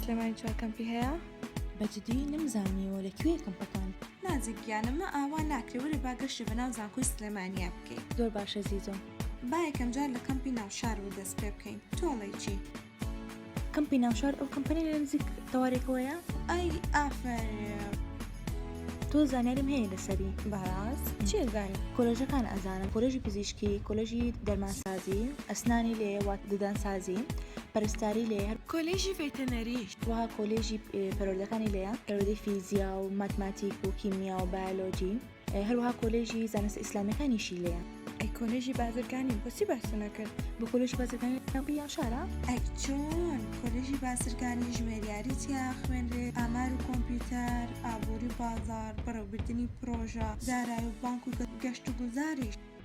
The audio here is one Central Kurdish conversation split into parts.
سلێمانی چوار کەمپی هەیە بەجددی نمزانیەوە لە کوێ کەمپەکان نازیک گیانمە ئاوا ناکرێ وەرە باگەشتی بە ناو زانکۆی سلێمانیا بکەین زۆر باشە زیزۆ با یەکەم جار لە کەمپی ناوشار و دەست پێ بکەین تۆڵێکی کەمپی ناوشار ئەو کەمپەنی لە نزیک تەوارێکەوەیە ئای ئافرین تۆ زانیاریم هەیە لەسەری باراز چێگای کۆلژەکان ئەزانم کۆلژی پزیشکی کۆلژی دەرمانسازی ئەسنانی لێ وات ددانسازی پەرستاری لێ هەر کۆلژی ڤێتەنەری وها کۆلێژی پەرۆردەکانی لێە پەرۆدەی فیزیا و ماتماتیک و کیمیا و بایۆلۆجی هەروەها کۆلێژی زانستە ئیسلامیەکانیشی لێە ئەی کۆلێژی بازرگانی بۆچی باسی نەکرد بۆ کۆلێژی بازرگانی ناوی یان شارە ئەی چۆن کۆلێژی بازرگانی ژمێریاری تیا خوێنرێت ئامار و کۆمپیوتەر ئابووری بازار بەڕێوبردنی پرۆژە دارایی و بانک و گەشت و گوزاریش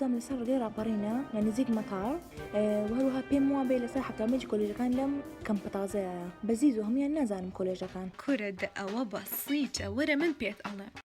بزانم لەسەر ڕێگەی ڕاپەڕینە لە نزیک مەتاڵ وهروها پێم وا بێ لەسەر حتامەج کۆلژەکان لەم کەم پتازەیە بەزیز و هەموان نازانم کۆلێژەکان کورە دە ئەوە بەسیتە وەرە من پێت ئەڵێ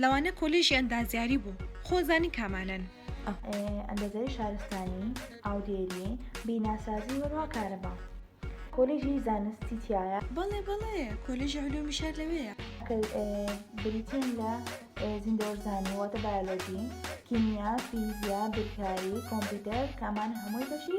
لەوانە کۆلێژی ئەندازیاری بوو خۆ زانی کامانەن. ئەندازیاری شارستانی، ئاودێری، بیناسازی وەروها کارەبا. کۆلێژی زانستی تیایە؟ بەڵێ بەڵێ کۆلێژی علومی شار لەوێیە. کە بریتین لە زیندەوەرزانی واتە بایۆلۆجی، کیمیا، فیزیا، بیرکاری، کۆمپیوتەر کە ئەمانە هەمووی بەشی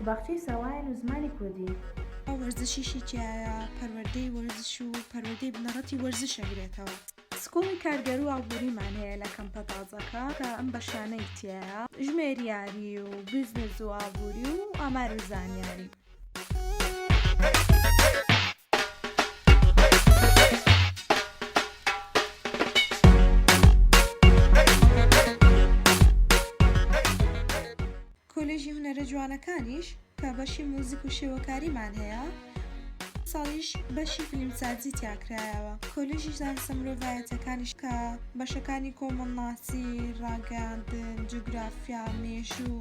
و باخچەی ساوایان و زمانی کوردی. ئەو وەرزشیشی تیایە پەروەردەی وەرزش و پەروەردەی بنەڕەتی وەرزش ئەگرێتەوە. سکوڵی کارگێر و ئابووریمان هەیە لە کەمپە تازەکە کە ئەم بەشانەی تیایە، ژمێریاری و بیزنس و ئابووری و ئامار و زانیاری. کۆلێژی هونەرە جوانەکانیش کە بەشی موزیک و شێوەکاریمان هەیە ساڵیش بەشی فیلمسازی تیا کرایەوە کۆلێژی زانستە مرۆڤایەتەکانیش کە بەشەکانی کۆمەڵناسی ڕاگەیاندن جوگرافیا مێژوو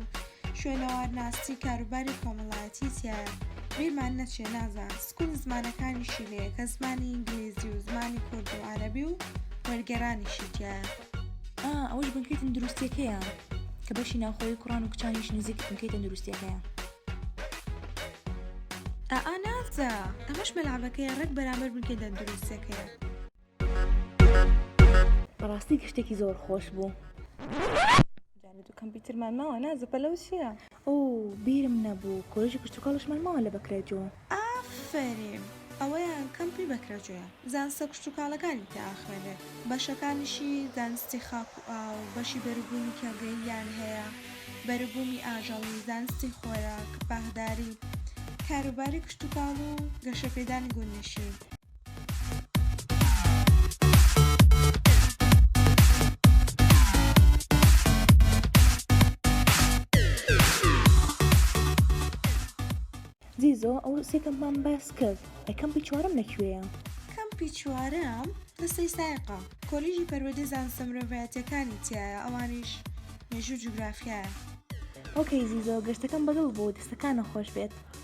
شوێنەوارناسی کاروباری کۆمەڵایەتی تیایە بیرمان نەچێ نازان سکوڵ زمانەکانیشی لێ کە زمانی ئینگلیزی و زمانی کورد و عەرەبی و وەرگێرانیشی تیایە ئا ئەوەش بنکەی تەندروستیەکەیە کە بەشی ناوخۆی کوڕان و کچانیش نزیک بنکەی تەندروستیەکەیە ئا نازە ئەمەش مەلعبەکەیە ڕێک بەرامبەر بنکەی تەندروستیەکەیە بەڕاستی گشتێکی زۆر خۆش بوو. جانێت و کەمپیوترمان ماوە نازە پەلەوسیە ئۆو بیرم نەبوو کۆلێژی کشتوکاڵیشمان ماوە لە بەکرەجۆ. ئافەرین ئەوەیە کەمپی بەکرەجۆیە زانستە کشتوکاڵەکانی تیا ئەخوێنرێت بەشەکانیشی زانستی خاک و ئاو بەشی بەروبوومی کێڵگەییان هەیە بەروبوومی ئاژەڵی زانستی خۆراک باخداری کاروباری کشتوکاڵ و گەشەپێدانی گوندنشین زیزۆ ئەو سێ کەمپمان باس کرد ئەی کەمپی چوارەم لە کوێیە؟ کەمپی چوارەم لە سەیسایقا کۆلیژی پەروەردەی زانستە مرۆڤایەتییەکانی تیایە ئەوانیش مێژوو جوگرافیایە. ئۆکەی زیزۆ گەشتەکەم بەدڵ بوو دەستەکانت خۆش بێت.